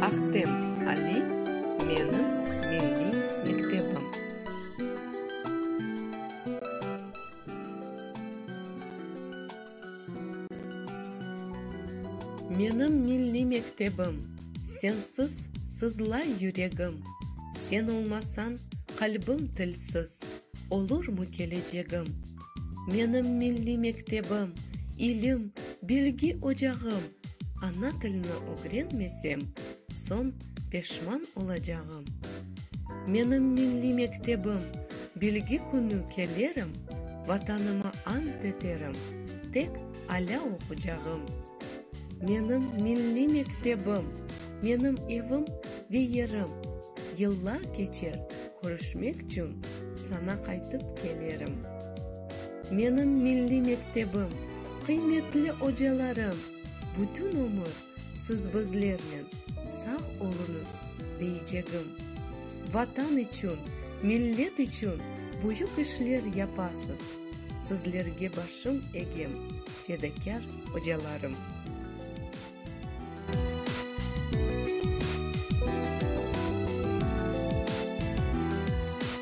Ahtem Ali, menim milliy mektebim. Menim milliy mektebim. Sensiz sızlay yüregim. Sen olmasañ, qalbim tilsiz. Olurmu kelecegim? Menim milliy mektebim, ilim, bilgi ocağım. Ana tilni ögrenmesem, soñ. peşman olacağım. Menim milliy mektebim, bilgi künü kelerim, Vatanıma ant eterim, tek alâ oqucağım. Menim milliy mektebim, menim evim ve yerim, Yıllar keçer, körüşmek çün sana qaytıp kelerim. Menim milliy mektebim, qıymetli ocalarım, Bütün ömür siz bizlernen sağ oluñız deycegim. Vatan içün, millet içün büyük işler yapasız, sizlerge başım egem, fedakâr ocalarım.